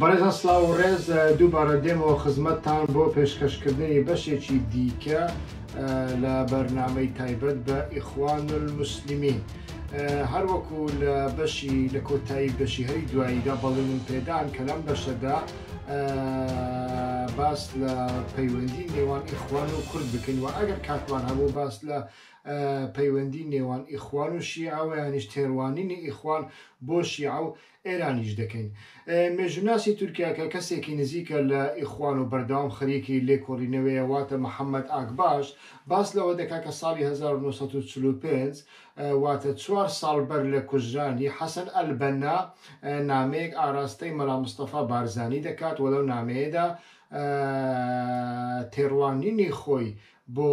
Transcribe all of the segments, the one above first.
بەڕێزان سڵاو و ڕێز، دووبارە دێمەوە خزمەتتان بۆ پێشکەشکردنی بەشێکی دیکە لە بەرنامەی تایبەت بە ئیخوان الموسلیمین. هەر وەکو لە بەشی لە کۆتایی بەشی هەری دواییدا بەڵێنم پێدان کە لەم بەشەدا باس لە پەیوەندی نێوان ئیخوان و کورد بکەین و ئەگەر کاتمان هەبوو باس لە پەیوەندی نێوان ئیخوان و شیعە و یانیش تێڕوانینی ئیخوان بۆ شیعە و ئێرانیش دەکەین. مێژووناسی تورکیا کە کەسێکی نزیکە لە ئیخوان و بەردەوام خەریکی لێکۆڵینەوەیە واتە محەمەد ئاکباش باس لەوە دەکات کە ساڵی هەزار و نۆ سەد و چل و پێنج واتە چوار ساڵ بەر لە کوژرانی حەسەن ئەلبەننا نامەیەک ئاراستەی مەلا مستەفا بارزانی دەکات و لەو نامەیەدا تێڕوانینی خۆی بۆ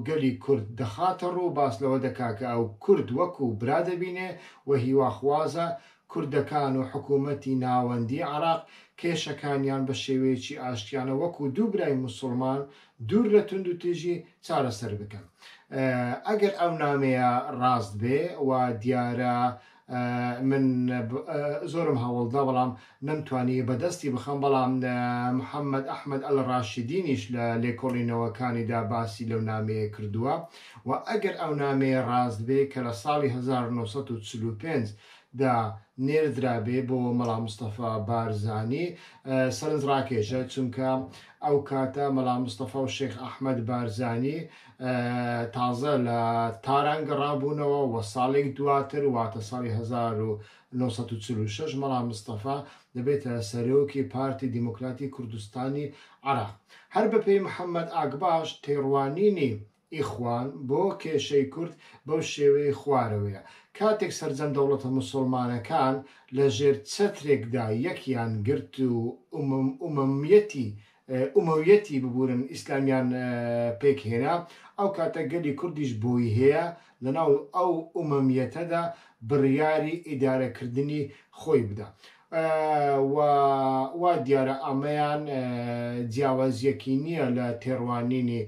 گەلی کورد دەخاتە ڕوو باس لەوە دەکا کە ئەو کورد وەکوو برا دەبینێ و هیواخوازە کوردەکان و حکوومەتی ناوەندیی عێراق کێشەکانیان بە شێوەیەکی ئاشتیانە وەکوو دوو برای موسوڵمان دوور لە توندوتیژی چارەسەر بکەن. ئەگەر ئەو نامەیە ڕاست بێ وا دیارە من زۆرم هەوڵدا بەڵام نەمتوانی بەدەستی بخەم بەڵام محمد احمد الراشدینیش لە لێکۆڵینەوەکانیدا باسی لەو نامەیە کردووە و ئەگەر ئەو نامەیە ڕاست بێ کە لە ساڵی هەزار و نۆ سەد و چل و پێنج دا نێردرابێ بۆ مەڵا مستەفا بارزانی سەرنجڕاکێشە چونکە ئەو کاتە مەڵا مستەفا و شێخ احمد بارزانی تازە لە تاران گەڕابوونەوە و ساڵێک دواتر واتە ساڵی هەزار و نۆ سەد و چل و شەش مەڵا مستەفا دەبێتە سەرۆکی پارتی دیموکراتی کوردستانی عێراق. هەر بەپێی محەممەد ئاکباش تێڕوانینی ئیخوان بۆ کێشەی کورد بەو شێوەی خوارەوەیە، کاتێک سەرجەم دەوڵەتە موسڵمانەکان لەژێر چەترێکدا یەکیان گرت و ئوممیەتی ئومەویەتی ببورن ئیسلامیان پێک هێنا ئەو کاتە گەلی کوردیش بۆی هەیە لەناو ئەو ئومەمیەتەدا بڕیاری ئیدارە کردنی خۆی بدا و وا دیارە ئەمەیان جیاوازیەکی نیە لە تێڕوانینی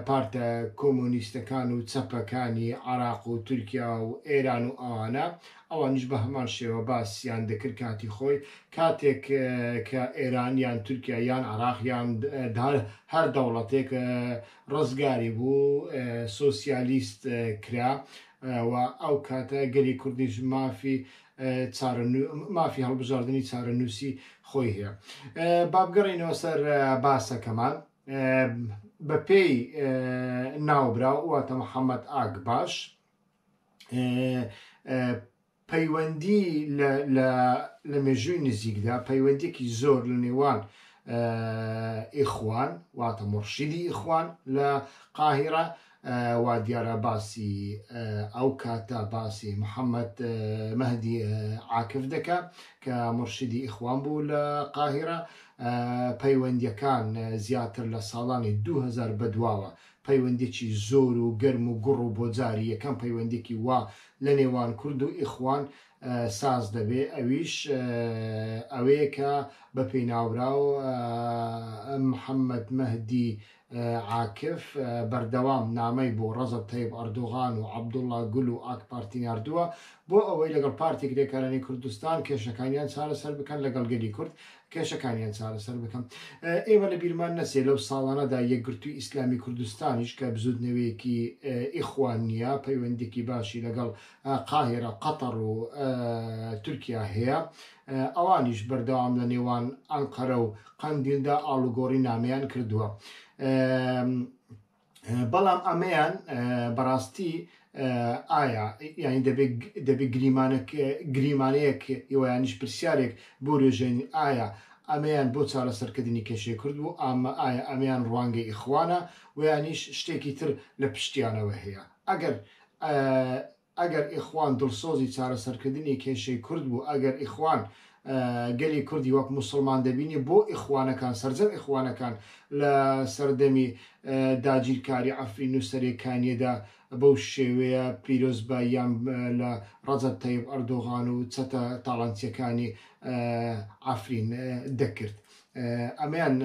پارتە کۆمۆنیستەکان و چەپەکانی عراق و تورکیا و ئێران و ئەوانە ئەوانیش بە هەمان شێوە باسیان دەکرد کاتی خۆی کاتێک کە ئێران یان تورکیا یان عراق یان دار هەر دەوڵەتێک ڕزگاری بوو سوسیالیست کرا و ئەو کاتە گەلی کوردیش مافی مافی هەڵبژاردننی چارەنووسی خۆی هەیە بابگەڕینەوە سەر باسەکەمان بەپێی ناوبراو واتە محەممەد ئاگ باش پەیوەندی لە مێژووی نزیکدا پەیوەندێکی زۆر لە نێوان ئیخوان واتە مڕشیدی ئیخوان لە قاهرە وا دیارە باسی ئەو کاتە باسی محەممەد مەدی عاکف دەکە کە مرشدی ئیخوان بوو لە قاهرە پەیوەندیەکان زیاتر لە ساڵانی 2000 بەدواوە پەیوەندیەکی زۆر و گەرم و گوڕ و بۆ جاری یەکەم پەیوەندیەکی وا لە نێوان کورد و ئیخوان ساز دەبێ ئەویش ئەوەیە کە بە پێناوراو محمد مەهدی عاکف بەردەوام نامەی بۆ ڕەزەب تەیب ئەردۆغان و عەبدوڵا گول و ئاک پارتی ناردووە بۆ ئەوەی لەگەڵ پارتی کرێکارانی کوردستان کێشەکانیان چارەسەر بکەن لەگەڵ گەلی کورد کێشەکانیان چارەسەر بکەم. ئێمە لە بیرمان نەچێ لەو ساڵانەدا یەکگرتووی ئیسلامی کوردستانیش کە بزووتنەوەیەکی ئیخوانییە، پەیوەندییەکی باشی لەگەڵ قاهیرە، قەتەڕ و تورکیا هەیە. ئەوانیش بەردەوام لە نێوان ئەنقەرە و قەندیلدا ئاڵوگۆڕی نامەیان کردووە. بەڵام ئەمەیان بەڕاستی ئایا یعنی دەبێت دەبێت گریمانە گریمانەیەک یوانیش پرسیارێک بۆ رێژێنی ئایا ئەمەیان بۆ چارەسەرکردنی کێشەی کرد بوو ئامە ئایا ئەمیان ڕوانگەی ئیخوانە ویانیش شتێکی تر لە پشتیانەوە هەیە ئەگەر ئەگەر ئیخوان دڵسۆزی چارەسەرکردنی کێشەی کورد بوو، ئەگەر ئیخوان گەلی کوردی وەک موسڵمان دەبینی، بۆ ئیخوانەکان، سەرجەم ئیخوانەکان لە سەردەمی داگیرکاری عەفرین و سەرێکانییەدا بەو شێوەیە پیرۆزباییان لە ڕەجەب تەیب ئەردۆغان و چەتە تاڵانچییەکانی عەفرین دەکرد؟ ئەمەیان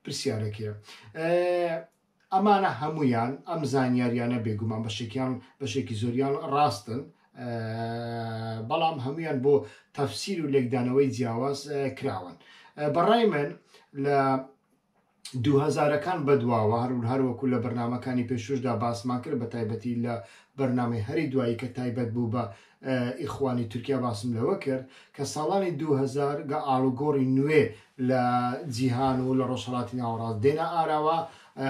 پرسیارەکەیە. ئەمانە هەموویان ئەم زانیاریانە بێگومان بەشێکیان بەشێکی زۆریان ڕاستن بەڵام هەمویان بۆ تەفسیر و لێکدانەوەی جیاواز کراون بەڕای من لە دوهزارەکان بەدواوە هەرون هەروەکو لە بەرنمەکانی پێشوشدا باسمان کرد بە تایبەتی لە بەرنمەی هەری دوایی کە تایبەت بوو بە ئیخوانی تورکیا باسم لەوە کرد کە ساڵانی دوو هەزار گە ئاڵوگۆڕی نوێ لە جیهان و لە ڕۆژهەڵاتی ناوەڕاست دێنە ئاراوە،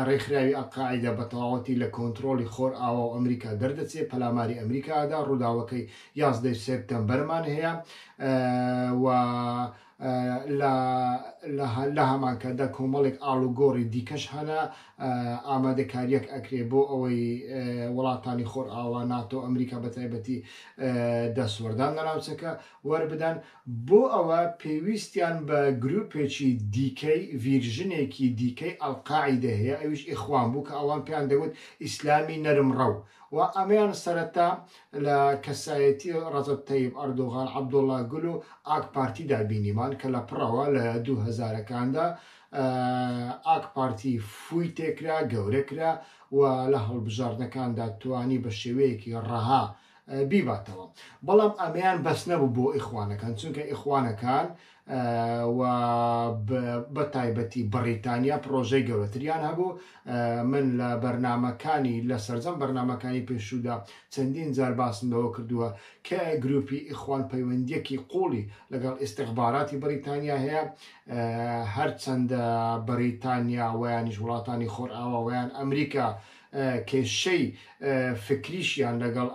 ڕێکخراوی ئەلقاعیدە بە تەواوەتی لە کۆنتڕۆڵی خۆرئاوا و ئەمریکا دەردەچێت، پەلاماری ئەمریکا ئەدا، ڕووداوەکەی یازدە ی سێپتەمبەرمان هەیە و لە هەمانکاتدا کۆمەڵێک ئاڵوگۆڕی دیکەش هەنە، ئامادەکارییەک ئەکرێ بۆ ئەوەی وڵاتانی خۆرئاوا، ناتۆ، ئەمریکا بە تایبەتی دەستوەردان لە ناوچەکە وەربدەن، بۆ ئەوە پێویستیان بە گرووپێکی دیکەی ڤیرژنێکی دیکەی ئەلقاعیدە هەیە ئەویش ئیخوان بوو کە ئەوان پێیان دەگوت ئیسلامی نەرمڕەو و ئەمەیان سەرەتا لە کەسایەتی ڕەجەب تەیب ئەردۆغان، عەبدوڵا گول و ئاک پارتیدا بینیمان کە لە پڕەوە لە دوو هەزارەکاندا ئاک پارتی فووی تێکرا، گەورە کرا و لە هەڵبژاردنەکاندا توانی بە شێوەیەکی ڕەها بیباتەوە. بەڵام ئەمەیان بەس نەبوو بۆ ئیخوانەکان، چونکە ئیخوانەکان و بە تایبەتی بەڕیتانیا پڕۆژەی گەورەتریان هەبوو من لە بەرنمەکانی لە سەررجەم بەرنمەکانی پێشوودا چەندین جار باسم لەوە کردووە کە گروپی ئیخوان پەیوەندیەکی قوڵی لەگەڵ ئیسیخباراتی بەریتانیا هەیە هەرچەندە بەریتانیا ویانیش وڵاتانی خۆرئاواوەیان ئەمریکا کێشەی فکریشیان لەگەڵ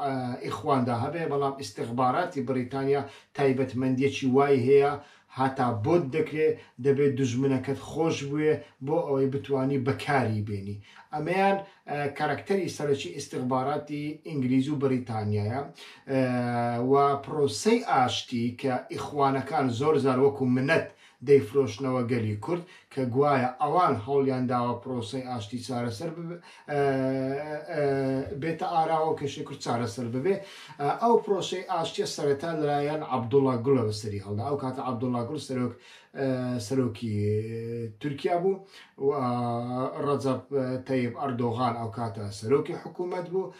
ئیخواندا هەبێ، بەڵام ئیستیخباراتی بریتانیا تایبەتمەندیەکی وای هەیە هەتا بۆت دەکرێ دەبێ دوژمنەکەت خۆش بوێ بۆ ئەوەی بتوانی بەکاری بێنی. ئەمەیان کارەکتەری سەرەکی ئیستیخباراتی ئینگلیز و بریتانیایە و پرۆسەی ئاشتی کە ئیخوانەکان زۆر جار وەکو منەت دەیفرۆشنەوە گەلی کورد کە گوایە ئەوان هەوڵیان داوە پرۆسەی ئاشتی چارەسەر بێتە ئاراوە و کێشەی کورد چارەسەر ببێ ئەو پرۆسەی ئاشتیە سەرەتا لەلایەن عەبدوڵا گوڵە بەسەری هەڵدا ئەو کاتە عەبدوڵا گوڵ سەرۆک سەرۆکی تورکیا بوو و ڕەجەب تەیب ئەردۆغان ئەو کاتە سەرۆکی حکوومەت بوو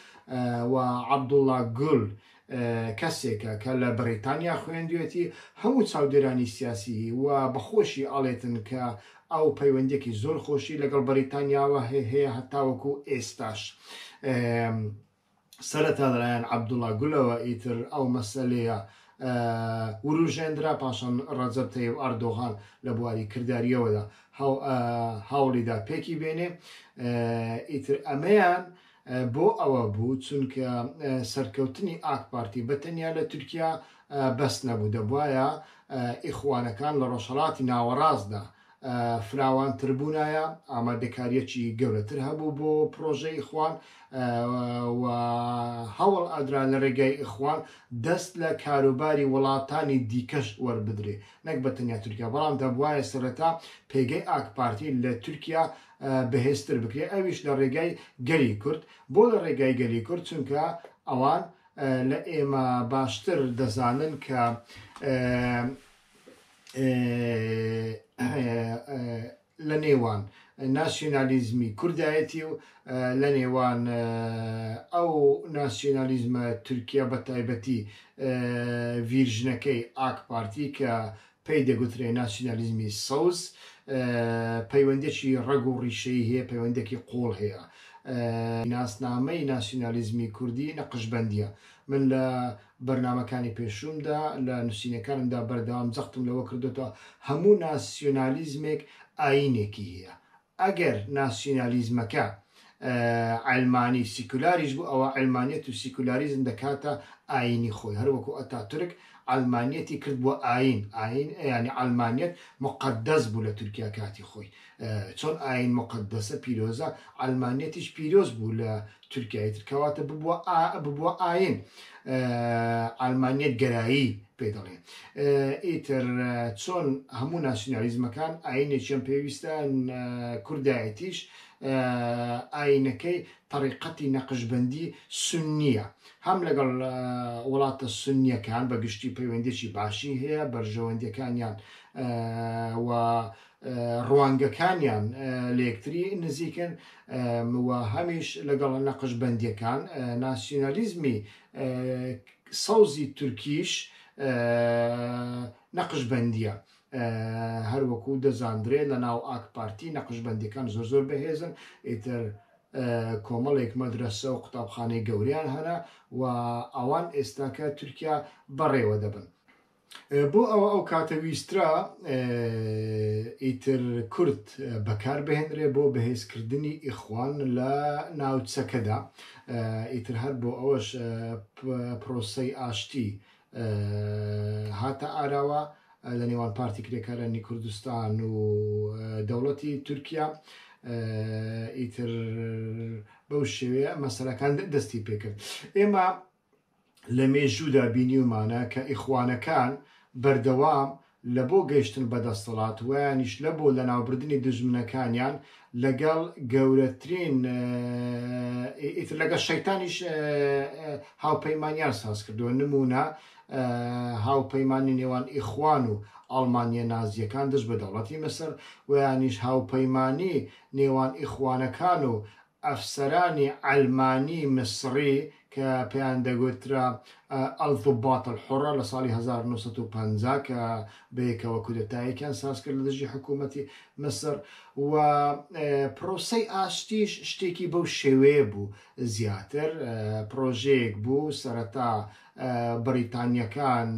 و عەبدوڵا گوڵ کەسێکە کە لە بەڕیتانیا خوێندوێتی، هەموو چاودێرانی سیاسی و بە خۆشی ئەڵێتن کە ئەو پەیوەندیەکی زۆر خۆشی لەگەڵ بەڕیتانیاوە هەیە هەتاوەکو ئێستاش. سەرەتا لەلایەن عەبدوڵا گولەوە ئیتر ئەو مەسەلەیە وروژێندرا پاشان ڕەجەب تەیب ئەردۆغان لە بواری کرداریەوەدا هەوڵیدا پێکی بێنێ ئیتر ئەمەیان بۆ ئەوە بوو چونکە سەرکەوتنی ئاک پارتی بە تەنیا لە تورکیا بەس نەبوو دەبوایە ئیخوانەکان لە ڕۆژهەڵاتی ناوەڕاستدا فراوانتربوونایە ئامادەکاریەکی گەورەتر هەبوو بۆ پرۆژە ئیخوان و هەوڵ ئەدرا لە ڕێگای ئیخوان دەست لە کاروباری وڵاتانی دیکەش وەربدرێ نەک بە تەنیا تورکیا بەڵام دەبواە سەرەتا پێگەی ئاک پارتی لە تورکیا بەهێزتر بکرێت ئەویش لە ڕێگای گەلی کورد بۆ لە ڕێگای گەلی کورد چونکە ئەوان لە ئێمە باشتر دەزانن کە لە نێوان ناسیۆنالیزمی کوردایەتی و لە نێوان ئەو ناسیۆنالیزمە تورکیا بە تایبەتی ڤیرژنەکەی ئاک پارتی کە پێی دەگوترێ ناسیونالیزمی سەوز، پەیوەندییەکی ڕەگ و ڕیشەیی هەیە، پەیوەندییەکی قووڵ هەیە. ناسنامەی ناسیونالیزمی کوردی نەقشبەندییە. من لە بەرنامەکانی پێشوومدا، لە نووسینەکانمدا بەردەوام جەختم لەوە کردۆتەوە، هەموو ناسیونالیزمێک ئایینێکی هەیە. ئەگەر ناسیونالیزمەکە عەلمانی سیکولاریش بوو ئەوا عەلمانیەت و سیکولاریزم دەکاتە ئاینی خۆی هەر وەکو ئەتاتورک عەلمانیەتی کرد بووە ئاین ئاین یانی عەلمانیەت مقدس بوو لە تورکیا کاتی خۆی چۆن ئاین مقدسە پیرۆزە عەلمانیەتیش پیرۆز بوو لە تورکیای تر کەواتە ببووە ببووە ئاین ئالمانیت گەرایی پێ دەڵێن ئیتر چۆن هەموو ناسیۆنالیزمەکان ئاینێکیان پێویستە کوردایەتیش ئاینەکەی طریقەتی نەقشبندی سنیە هەم لەگەڵ وڵاتە سنیەکان بە گشتی پەیوەندێکی باشی هەیە بەرژەوەندەکانیان و ڕوانگەکانیان لە یەکتری نزیکن و هەمیش لەگەڵ نەقشبەندییەکان، ناسیونالیزمی سەوزی تورکیش نەقشبەندییە. هەر وەکوو دەزاندرێ لە ناو ئاک پارتی نەقشبەندییەکان زۆر زۆر بەهێزن، ئیتر کۆمەڵێک مەدرەسە و قوتابخانەی گەورەیان هەنە و ئەوان ئێستاکە تورکیا بەڕێوە دەبن. بۆ ئەوە ئەو کاتە ویسترا ئیتر کورد بەکار بهێنرێ بۆ بەهێزکردنی ئیخوان لە ناوچەکەدا ئیتر هەر بۆ ئەوەش پرۆسەی ئاشتی هاتە ئاراوە لە نێوان پارتی کرێکارانی کوردستان و دەوڵەتی تورکیا ئیتر بەو شێوەیە مەسەلەکان دەستی پێکرد ئێمە لە مێژوودا بینیومانە کە ئیخوانەکان بەردەوام لە بۆ گەیشتن بە دەستەڵات وەیانیش لە بۆ لەناوبردنی دوژمنەکانیان لەگەڵ گەورەترین ئیتر لەگەڵ شەیتانیش هاوپەیمانیان ساز کردووە نمونە هاوپەیمانی نێوان ئیخوان و ئەڵمانیە نازیەکان دژ بە دەوڵەتی مسر وەیانیش هاوپەیمانی نێوان ئیخوانەکان و ئەفسەرانی عەلمانی میسڕی کە پێیان دەگوترا الضباط الحرە لە ساڵی هەزار و نۆ سەد و پەنجا کە بەیەکەوە کودەتایەکیان سازکرد لە دژی حکوومەتی میسڕ و پرۆسەی ئاشتیش شتێکی بەو شێوەیە بوو زیاتر پرۆژەیەک بوو سەرەتا بەریتانییەکان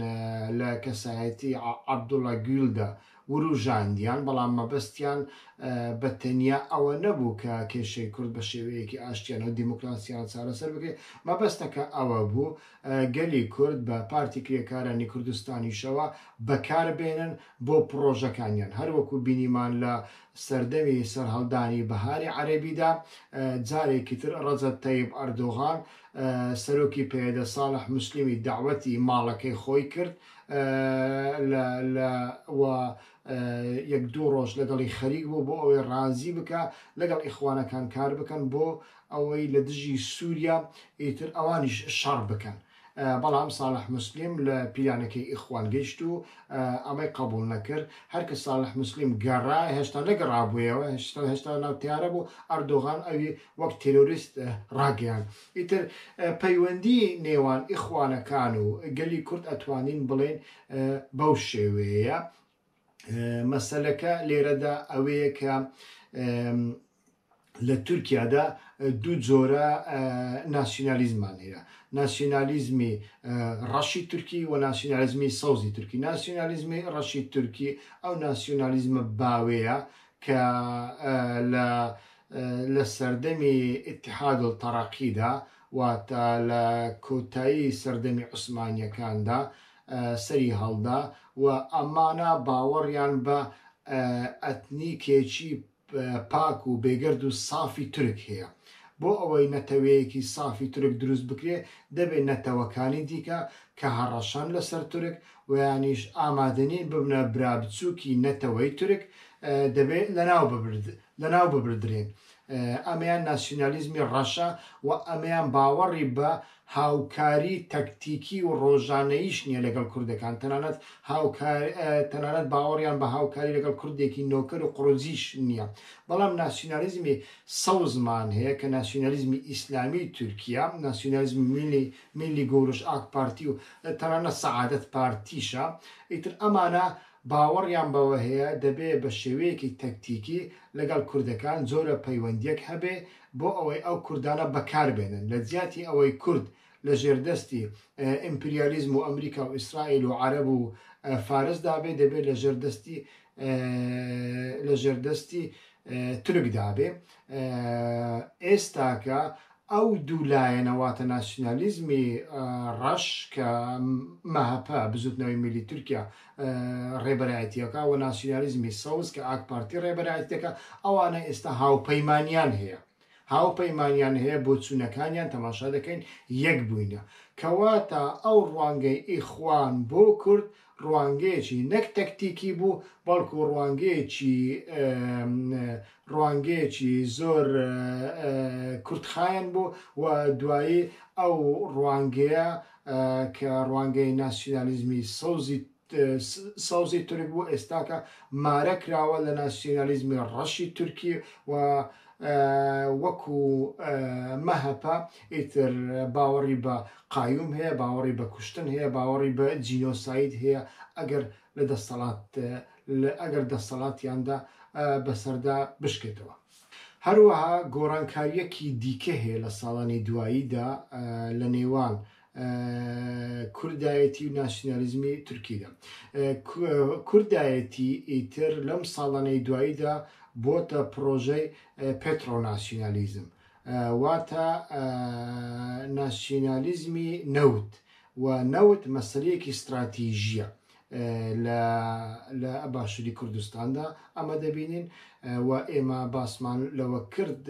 لە کەسایەتی عەبدوڵا گویلدا وروژاندیان، بەڵام مەبەستیان بە تەنیا ئەوە نەبوو کە کێشەی کورد بە شێوەیەکی ئاشتیانە و دیموکراسیانە چارەسەر بکرێت، مەبەستەکە ئەوە بوو گەلی کورد بە پارتی کرێکارانی کوردستانیشەوە بەکار بێنن بۆ پڕۆژەکانیان، هەر وەکو بینیمان لە سەردەمی سەرهەڵدانی بەهاری عەرەبیدا جارێکی تر ڕەجەب تەیب ئەردۆغان سەرۆکی پەیەدە ساڵح موسلیمی دەعوەتی ماڵەکەی خۆی کرد لە لە و یەک دوو ڕۆژ لەگەڵی خەریک بوو بۆ ئەوەی ڕازی بکا لەگەڵ ئیخوانەکان کار بکەن بۆ ئەوەی لە دژی سووریا ئیتر ئەوانیش شەڕ بکەن بەڵام ساڵح موسلیم لە پیلانەکەی ئیخوان گەیشت و ئەمەی قەبوڵ نەکرد هەر کە ساڵح موسلیم گەڕا هێشتا نەگەڕابوویەوە هێشتا هێشتا لەناو تەیارە بوو ئەردۆغان ئەوی وەک تێرۆریست ڕاگەیاند ئیتر پەیوەندی نێوان ئیخوانەکان و گەلی کورد ئەتوانین بڵێین بەو شێوەیە مەسەلەکە لێرەدا ئەوەیە کە لە تورکیادا دوو جۆرە ناسیۆنالیزمان هەیە ناسیۆنالیزمی ڕەشی تورکی و ناسیۆنالیزمی سەوزی تورکی ناسیۆنالیزمی ڕەشی تورکی ئەو ناسیۆنالیزمە باوەیە کە لە لە سەردەمی ئیتحاد التەڕەقیدا واتە لە کۆتایی سەردەمی عوسمانییەکاندا سەری هەڵدا و ئەمانە باوەڕیان بە ئەتنیکێکی پاک و بێگەرد و سافی تورک هەیە بۆ ئەوەی نەتەوەیەکی سافی تورک دروست بکرێ دەبێت نەتەوەکانی دیکە کە هەڕەشەن لەسەر تورک ویانیش ئامادەنین ببنە برابچووکی نەتەوەی تورک، دەبێت لەناو ببردرێن. ئەمەیان ناسیونالیزمی ڕەشە و ئەمەیان باوەڕی بە هاوکاری تەکتیکی و ڕۆژانەییش نییە لەگەڵ کوردەکان، تەنانەت باوەڕیان بە هاوکاری لەگەڵ کوردێکی نۆکەر و قڕوجیش نییە. بەڵام ناسیونالیزمی سەوزمان هەیە کە ناسیونالیزمی ئیسلامیی تورکییە، ناسیونالیزمی میللی میللی گۆرش، ئاک پارتی و تەنانەت سەعادەت پارتیشە، ئیتر ئەمانە باوەڕیان بەوە هەیە دەبێ بە شێوەیەکی تەکتیکی لەگەڵ کوردەکان جۆرە پەیوەندییەک هەبێ بۆ ئەوەی ئەو کوردانە بەکار بێنن، لە جیاتی ئەوەی کورد لە ژێردەستی ئیمپریالیزم و ئەمریکا و ئیسرائیل و عەرەب و فارس دا بێ، دەبێ لە ژێردەستی لە ژێردەستی تورک دابێ ئێستاکە ئەو دوو لایەنە واتە ناسیونالیزمی ڕەش کە مەهەپە بزوتنەوەی میلی تورکیا ڕێبەرایەتیەکە و ناسیونالیزمی سەوز کە ئاک پارتی ڕێبەرایەتەکە ئەوانە ئێستا هاوپەیمانیان هەیە هاوپەیمانیان هەیە بۆچوونەکانیان تەماشا دەکەین یەک بووینە کەواتە ئەو ڕوانگەی ئیخوان بۆ کورد ڕوانگەیەکی نەک تەکتیکی بوو بەڵکو ڕوانگەیەکی ڕوانگەیەکی زۆر کورتخایەن بوو و دوایی ئەو ڕوانگەیە کە ڕوانگەی ناسیونالیزمی سەوزی سەوزی تورک بۆ ئێستاکە مارە کراوە لە ناسیۆنالیزمی ڕەشی تورکی و وەکو مەهەپە ئیتر باوەڕی بە قایوم هەیە باوەڕی بە کوشتن هەیە باوەڕی بە جینۆساید هەیە ئەگەر لە دەستەڵات ئەگەر دەستەڵاتیاندا بەسەردا بشکێتەوە هەروەها گۆڕانکاریەکی دیکە هەیە لە ساڵانی دواییدا لە نێوان کوردایەتی و ناسیونالیزمی تورکیدا کوردایەتی ئیتر لەم ساڵانەی دواییدا بۆتە پرۆژەی پترۆناسیونالیزم واتە ناسیونالیزمی نەوت و نەوت مەسلەیەکی استراتیژیە لە باشوری کوردستاندا ئەمە دەبینین و ئێمە باسمان لەوە کرد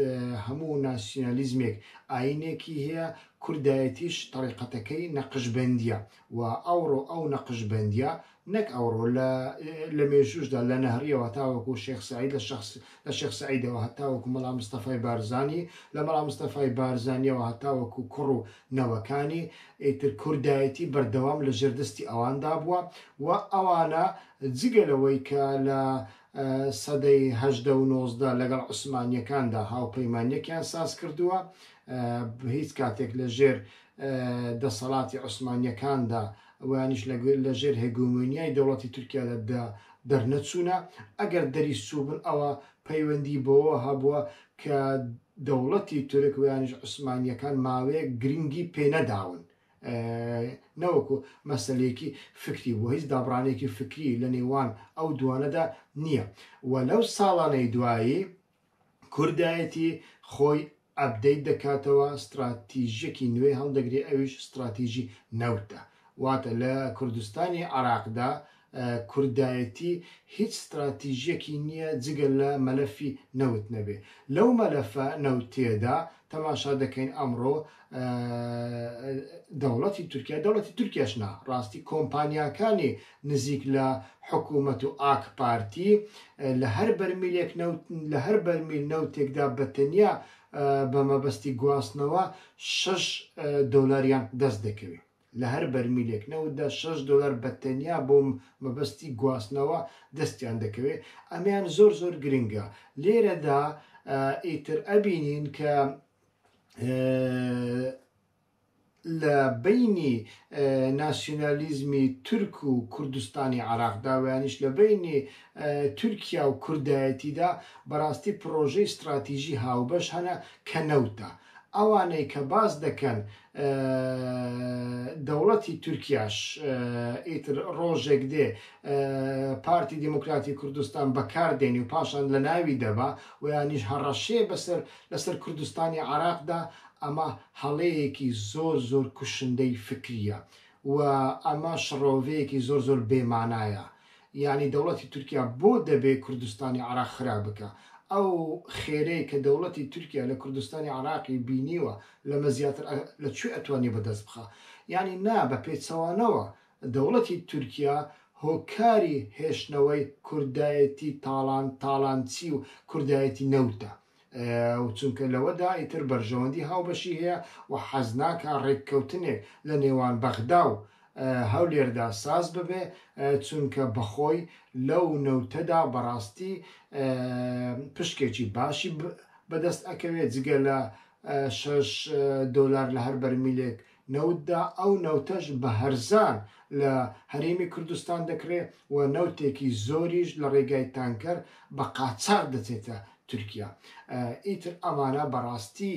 هەموو ناسیۆنالیزمێک ئاینێکی هەیە کوردایەتیش تەریقەتەکەی نەقشبندیە و ئەوڕۆ ئەو نەقشبندیە نەک ئەوڕۆ لە مێژوشدا لە نەهریەوە تاوەکو شێخ سعید لە شخص لە شێخ سەعیدەوە هەتاوەکو مەڵا مستەفای بارزانی، لە مەڵا مستەفای بارزانیەوە هەتاوەکو کوڕ و نەوەکانی، ئیتر کوردایەتی بەردەوام لە ژێر دەستی ئەواندا بووە و ئەوانە جگە لەوەی کە لە سەدەی هەژدە و نۆزدە لەگەڵ عوسمانیەکاندا هاوپەیمانیەکیان ساز کردووە هیچ کاتێک لە ژێر دەسەڵاتی عوسمانیەکاندا ئەوانیش لە ژێر هێگۆمۆنیای دەوڵەتی تورکیادا دا دەرنەچوونە، ئەگەر دەریش چووبن ئەوا پەیوەندی بەوەوە هەبووە کە دەوڵەتی تورک وەیانیش عوسمانییەکان ماوەیەک گرنگی پێ نەداون نەوەکو مەسەلەیەکی فکری بووە، هیچ دابڕانێکی فکری لە نێوان ئەو دووانەدا نییە و لەو ساڵانەی دوایی کوردایەتی خۆی ئەپدەیت دەکاتەوە ستڕاتیژیەکی نوێ هەڵدەگرێ ئەویش ستڕاتیژی نەوتە واتە لە کوردستانی عێراقدا کوردایەتی هیچ ستڕاتیژیەکی نیە جگە لە مەلەفی نەوت نەبێ لەو مەلەفە نەوتیەدا تەماشا دەکەین ئەمڕۆ دەوڵەتی تورکیا دەوڵەتی تورکیاش نا ڕاستی کۆمپانیاکانی نزیک لە حکوومەت و ئاکپارتی، لە هەر بەرمیلێک نەوت، لە هەر بەرمیل نەوتێکدا بە تەنیا بە مەبەستی گواستنەوە شەش دۆلاریان دەست دەکەوێت. لە هەر بەرمیلێک نەوتدا شەش دۆلار بە تەنیا بۆ مەبەستی گواستنەوە دەستیان دەکەوێت. ئەمەیان زۆر زۆر گرنگە. لێرەدا ئیتر ئەبینین کە لە بەینی ناسیونالیزمی تورک و کوردستانی عێراقدا و یانیش لە بەینی تورکیا و کوردایەتیدا بەڕاستی پڕۆژەی ستڕاتیژی هاوبەش هەنە کە نەوتە. ئەوانەی کە باس دەکەن دەوڵەتی تورکیاش ئیتر ڕۆژێک دێ پارتی دیموکراتی کوردستان بەکار دێنی و پاشان لە ناوی دەبا و یانیش هەڕەشەیە بەسەر لەسەر کوردستانی عێراقدا ئەمە هەڵەیەکی زۆر زۆر کوشندەی فکریە و ئەمە شڕۆڤەیەکی زۆر زۆر بێ مانایە یانی دەوڵەتی تورکیا بۆ دەبێ کوردستانی عراق خراپ بکا ئەو خێرەی کە دەوڵەتی تورکیا لە کوردستانی عراقی بینیوە لەمە زیاتر لە کوێ ئەتوانێ بە دەست بخا یانی نا بە پێچەوانەوە دەوڵەتی تورکیا هۆکاری هێشتنەوەی کوردایەتی تاڵان تاڵانچی و کوردایەتی نەوتە و چونکە لەوەدا ئیتر بەرژەوەندی هاوبەشی هەیە و حەز ناکا ڕێککەوتنێک لە نێوان بەغدا و هەولێردا ساز ببێ چونکە بەخۆی لەو نەوتەدا بەڕاستی پشکێکی باشی بەدەست ئەکەوێ جگە لە شەش دۆلار لە هەر بەرمیلێک نەوتدا، ئەو نەوتەش بە هەرزان لە هەرێمی کوردستان دەکڕێ و نەوتێکی زۆریش لە ڕێگای تانکەر بە قاچاغ دەچێتە تورکیا. ئیتر ئەمانە بە ڕاستی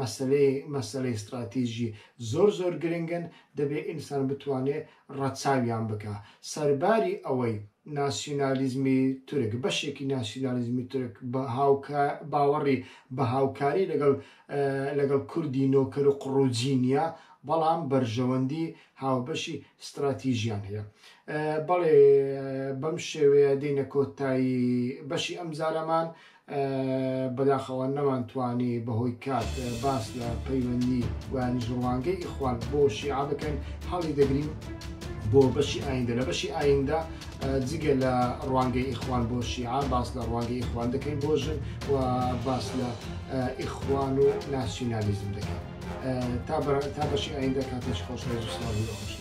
مەسەلەی مەسەلەی ستراتیژی زۆر زۆر گرنگن، دەبێ ئینسان بتوانێ ڕەچاویان بکا. سەرباری ئەوەی ناسیونالیزمی تورک، بەشێکی ناسیونالیزمی تورک بە هاوکا باوەڕی بە هاوکاری لەگەڵ لەگەڵ کوردی نۆکەر و قڕوجی نییە، بەڵام بەرژەوەندی هاوبەشی ستراتیژیان هەیە. بەڵێ بەم شێوەیە دێینە کۆتایی بەشی ئەمجارەمان. بەداخەوە نەمانتوانی بەهۆی کات باس لە پەیوەندی وانیش ڕوانگەی ئیخوان بۆ شیعە بکەین. هەڵیدەگرین بۆ بەشی ئایندە. لە بەشی ئایندە جگە لە ڕوانگەی ئیخوان بۆ شیعە باس لە ڕوانگەی ئیخوان دەکەین بۆ ژن و باس لە ئیخوان و ناسیونالیزم دەکەین تا تا بەشی ئاین دەکاتش خۆش ڕێز و سلاوی بە خۆشی